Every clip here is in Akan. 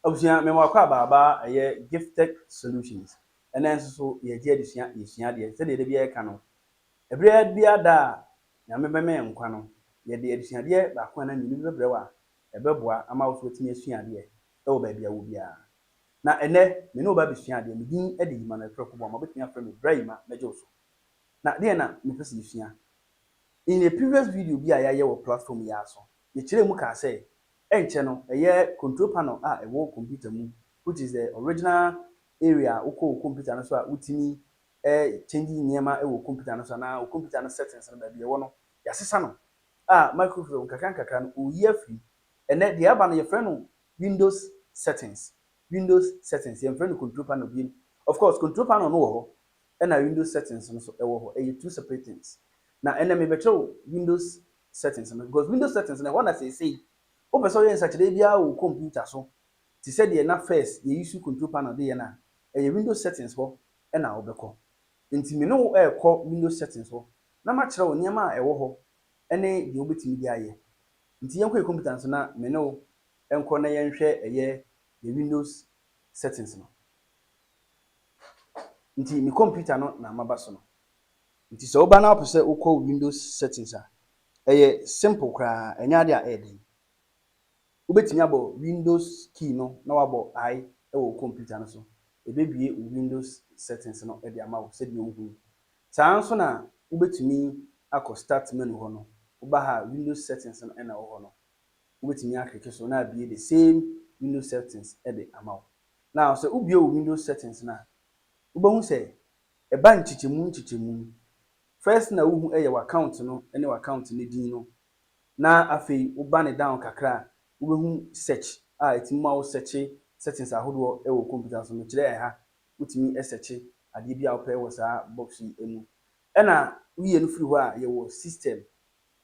Abusua mema wakɔ abaaba a ɛyɛ Gifttech Solutions ɛnɛ nso so yɛgye adesua yɛsua adeɛ sɛdeɛ da biara yɛka no ɛberɛ biara da a Nyame bɛma yɛn nkwa no yɛde adesuadeɛ baako anaa mmienu bi bɛbrɛ wo a ɛbɛboa ama wo nso watumi asua adeɛ wɔ baabi a wowɔ biara na ɛnɛ me ne wo ba abɛsua adeɛ me din de Emmanuel Prɛko Boamah wobɛtumi afrɛ me Bra Emma mɛgye wo so na deɛn na mepɛ sɛ yɛsua in a previous video bi a yɛayɛ wɔ platform yi ara so Mekyerɛɛ mu kaa sɛ, Ɛnkyɛ no, ɛyɛ control panel a ɛwɔ kɔmputa mu, which is the original area a wokɔ wo kɔmputa no so a wotumi change nneɛma wɔ kɔmputa no so anaa wo kɔmputa no settings no baabi a ɛwɔ no, yɛasesa no a Microsoft nkakrankakra no ɔreyi afiri. Ɛnnɛ, deɛ aba no yɛfrɛ no Windows settings, Windows settings, yɛmfrɛ no control panel bio. Of course, control panel no wɔ hɔ ɛna Windows settings no nso wɔ hɔ, ɛyɛ two separate things. Na ɛnnɛ mebɛkyerɛ wo Windows settings no because window settings no ɛhɔ na seesei wopɛ sɛ ɔyɛ nsakyerɛ biara wɔ wo computer so te sɛ deɛ na first yɛ use control panel de yɛ no a ɛyɛ window settings hɔ na wo bɛkɔ nti me ne wo ɛɛkɔ window settings hɔ na makyerɛ wo nneɛma a ɛwɔ hɔ ɛne deɛ wo bɛtumi de ayɛ nti yɛnkɔ yɛ computer no so na me ne wo nkɔ na yɛnhwɛ ɛyɛ yɛ windows settings no nti me computer no na maba so no. Nti sɛ woba na wopɛ sɛ wokɔ wo Windows settings a, ɛyɛ simple koraa, ɛnyɛ ade a ɛyɛ den. Wobɛtumi abɔ Windows key no na wabɔ I wɔ wo computer no so, ɛbɛbue wo Windows settings no de ama wo sɛdeɛ wohu yi. Saa ara nso na wobɛtumi akɔ start menu hɔ no, woba ha a Windows settings no na ɛwɔ hɔ no, wobɛtumi aklike so na abue the same Windows settings de ama wo. Now sɛ wobue wo Windows settings no a, wobɛhu sɛ Ɛba nkyekyɛmu nkyekyɛmu. First na wohu ɛyɛ w'account no ne w'account no din no na afei wo ba no down kakra a wobɛhu search a ɛtumi ma wo searche settings ahodoɔ wɔ computer so. Mekyerɛ ɛha wotumi searche adeɛ biara wopɛ wɔ saa box yi mu. Ɛna woyɛ no firi hɔ a yɛwɔ system,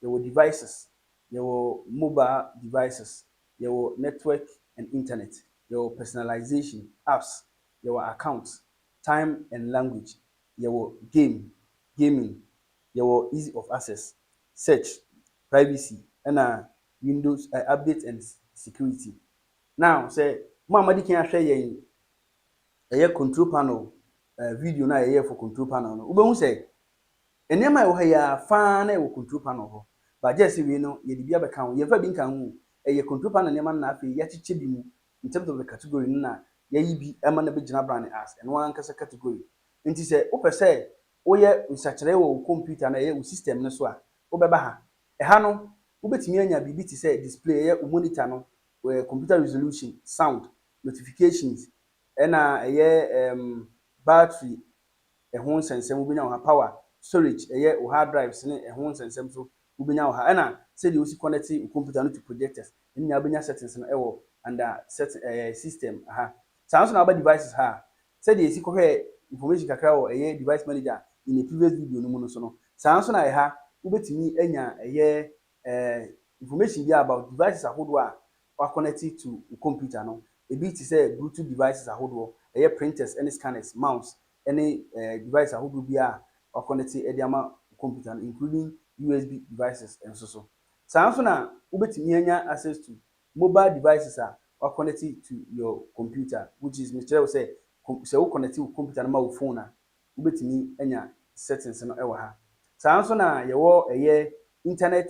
yɛwɔ devices, yɛwɔ mobile devices, yɛwɔ network and internet, yɛwɔ personalization, apps, yɛwɔ accounts, Time and Language, yɛwɔ Game, Gaming, yɛwɔ Easy of Access, Search, Privacy, ɛna Windows, eh, Updates and Security. Now, sɛ mo a moadi kan ahwɛ yɛn ɛyɛ Control Panel, eh, video no a yɛyɛɛ for Control Panel no, wobɛhu sɛ nneɛma a ɛwɔ ha yi ara fa ara na ɛwɔ Control Panel hɔ. But gyɛse wei no, yɛde bi abɛka ho. Yɛmfa bi nka ho o, ɛyɛ Control Panel nneɛma no na afei yɛakyekyɛ bi mu in terms of the category no na yɛayi bi ma no abɛgyina abrane as ɛno ankasa category. Enti sɛ wopɛ sɛ woyɛ nsakyeraɛ wɔ wo kɔmputa anaa ɛyɛ wo system no so a, wobɛba ha. Ɛha no, wobɛtumi anya biribi te sɛ display, ɛyɛ wo monitor no, kɔmputa resolution, sound, notifications, ɛna ɛyɛ um battery ɛho nsɛnsɛm wobɛnya wɔ ha, power, storage, ɛyɛ wo hard drives ne ɛho nsɛnsɛm nso wobɛnya wɔ ha, ɛna sɛdeɛ wosi connect wo kɔmputa no to projectors, ne nyinaa wobɛnya settings no wɔ under setting ɛɛ system ha. Saa nso na aba devices ha a, sɛdeɛ yɛsi kɔhwɛɛ information kakra wɔ ɛyɛ device manager in a previous video no mu no so no, saa nso na ɛha wobɛtumi anya ɛyɛ ɛɛ information biara about devices ahodoɔ a wa connect to wo computer no. Ɛbi te sɛ Bluetooth devices ahodoɔ, ɛyɛ printers ne scanners, mouse ne ɛɛ device ahodoɔ biara a wa connect de ama wo computer no including USB devices nso so. Saa ara nso na wobɛtumi anya access to mobile devices a wɔakɔnɛte to your computer, which is mekyerɛ wo sɛ kom sɛ wokɔnɛte wo computer no ma wo phone a, wobɛtumi anya settings no wɔ ha. Saa ara nso na yɛwɔ ɛyɛ internet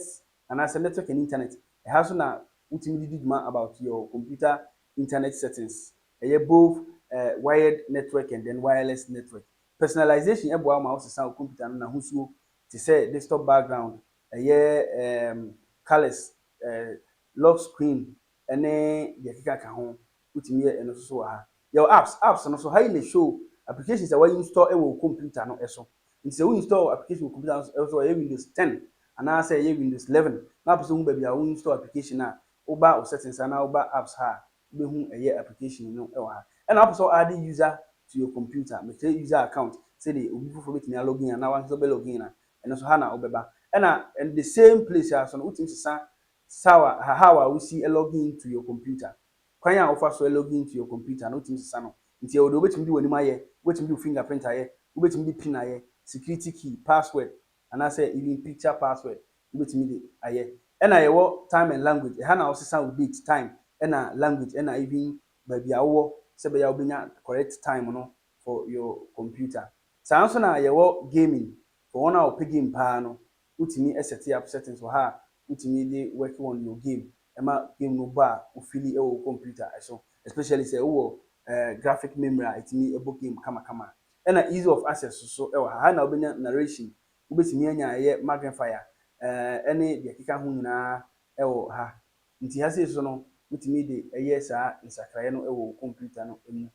anaasɛ network and internet. Ɛha nso na wotumi de di dwuma about your computer internet settings. Ɛyɛ both eh, wired network and then wireless network. Personalization boa wo ma wosesa wo computer no n'ahosuo te sɛ desktop background ɛyɛ ɛɛm colours ɛɛ lock screen ɛne deɛ ɛkeka ka ho wotumi yɛ ɛno nso so wɔ ha. Yɛwɔ apps, apps no so ha yi na ɛshow applications a wa install ɛwɔ wo computer no ɛso. Nti sɛ wo install application wɔ computer no so ɛso ɛyɛ windows ten anaa sɛ ɛyɛ windows eleven na wopɛ sɛ wohu baabi a wo install application a woba wo settings ha na woba apps ha a wobɛhu ɛyɛ application no wɔ ha. Ɛna wopɛ sɛ wo add user to your computer, me create user account sɛdeɛ obi foforɔ bɛtumi a login anaa wankasa wobɛ login a, ɛno nso ha na wobɛba. Ɛna in the same place ara nso no wotumi sesa saw a, how a wosi login to your computer, kwan a wofa so login to your computer no wotumi sesa no. Nti ɛwɔ deɛ wobɛtumi de w'anim ayɛ, wobɛtumi de wo fingerprint ayɛ, wobɛtumi de pin ayɛ, security key, password, anaasɛ even picture password wobɛtumi de ayɛ. Ɛna yɛwɔ time and language, ɛha na wosesa wo date, time ɛna language ɛna even baabi a wowɔ sɛ ɛbɛyɛ a wobɛnya correct time no for your computer. Saa nso na yɛwɔ gaming, for wɔn a wɔpɛ game paa no wotumi set up settings wɔ ha a wotumi de work on your game ɛma game no bɔ a wo feeli ɛwɔ wo computer ɛso especially sɛ wowɔ graphic memory a ɛtumi bɔ game kama kama a. Ɛna ease of access nso wɔ ha. Ha na wobɛnya narration, wobɛtumi anya a ɛyɛ magnifier ne deɛ ɛkeka ho nyinaa wɔ ha. Nti ha sei nso no, wotumi de yɛ saa nsakraeɛ no wɔ wo computer no mu.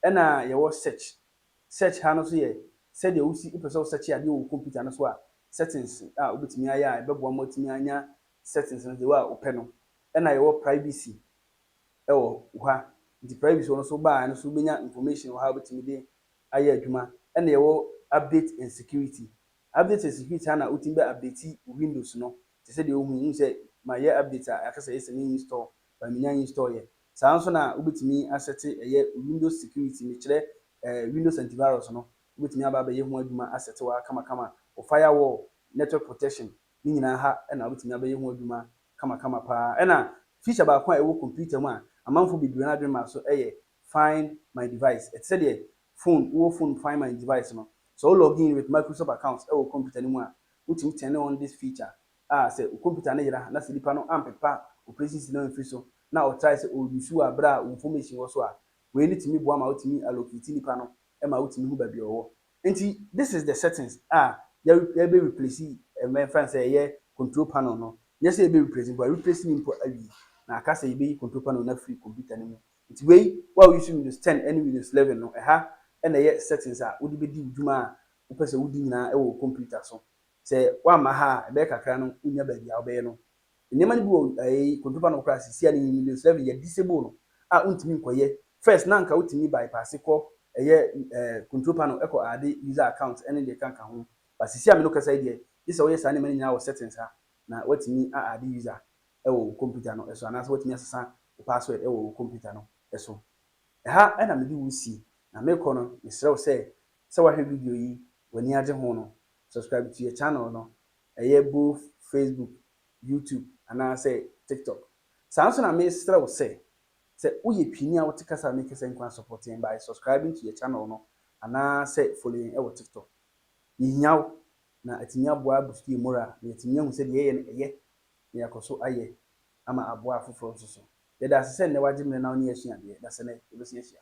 Ɛna yɛwɔ search. Search ha no nso yɛ sɛdeɛ wosi, wopɛ sɛ wo search adeɛ wɔ wo computer no so a, settings a wobɛtumi ayɛ a ɛbɛboa ma woatumi anya settings no the way a wopɛ no. Ɛna yɛwɔ privacy. ɛwɔ ha nti private hɔ no so baa ɛno so wobɛnya information wɔ ha a wobɛtumi de ayɛ adwuma ɛna yɛwɔ update and security update and security ha na wotumi bɛ update wo windows no te sɛ deɛ wohu yi wohu sɛ mayɛ update a ɛka sɛ ɛyɛ sɛ me install but menya install yɛ saa nso na wobɛtumi asɛte ɛyɛ windows security mekyerɛ eh, windows antivirus no wobɛtumi aba abɛyɛ ho adwuma asɛte wɔ ha kamakama wo firewall network protection ne nyinaa ha ɛna wobɛtumi abɛyɛ ho adwuma kamakama pa ara. Ɛnna feature baako a ɛwɔ kɔmputa mu a amanfoɔ bebree no adwene maa so yɛ Find My Device. Ɛte sɛ deɛ phone, wowɔ phone Find My Device no, sɛ wo log in with Microsoft account wɔ kɔmputa no mu a, wotumi turn on this feature a sɛ wo kɔmputa no yera na sɛ nipa no ampepa operation system no amfiri so na ɔtrae sɛ ɔ use wo berɛ a wo information wɔ so a, wei no tumi boa ma wotumi allocate nipa no ma wotumi hu baabi a ɔwɔ. Nti this is the settings a yɛbɛ replace yɛmfa no sɛ ɛyɛ control panel no, nyɛ sɛ yɛbɛ replace mpo, yɛreplace no mpo awie na aka sɛ yɛbɛyi control panel no afiri computer no mu. Nti wei wo a wo use Windows 10 ne Windows 11 no ɛha na ɛyɛ settings a wode bɛdi wo dwuma a wopɛ sɛ wodi nyinaa wɔ wo computer so. Sɛ woamma ha a ɛbɛyɛ kakra no wonnya baabi a wobɛyɛ no. Nneɛma no bi wɔ ɛɛ kɔntro ba no koraa sisi a ne nyini no srɛ no yɛ disable no a wontumi nkɔyɛ. First na anka wotumi bypass kɔ ɛyɛ ɛɛ kɔntro pa no kɔ add user account ɛne deɛ ɛkanka ho. But sisi a me no kasa yi deɛ gye sɛ woyɛ saa nneɛma no nyinaa wɔ settings ha na woatumi a add user ɛwɔ wo computer no ɛso anaasɛ woatumi asesa wo password ɛwɔ wo computer no ɛso. Ɛha ɛna me de wo si na mekɔ no mesrɛ wo sɛ sɛ woahwɛ video yi w'ani agye ho no subscribe to yɛ channel no ɛyɛ both Facebook, YouTube anaasɛ TikTok. Saa nso na mesrɛ wo sɛ, sɛ woyɛ Twini a wote Kasa a Meke Sɛ Nko a support yɛn by subscribing to yɛn channel no anaasɛ follow yɛn wɔ TikTok. Yɛhia wo na atumi aboa boost yɛn moral na yɛatumi ahu sɛ deɛ yɛyɛ no ɛyɛ na yɛakɔ so ayɛ ama aboa afoforɔ nso so. Yɛda ase sɛ nnɛ wagye mmerɛ na wo ne yɛn asua adeɛ. Dasene, yɛbɛsan ahyia.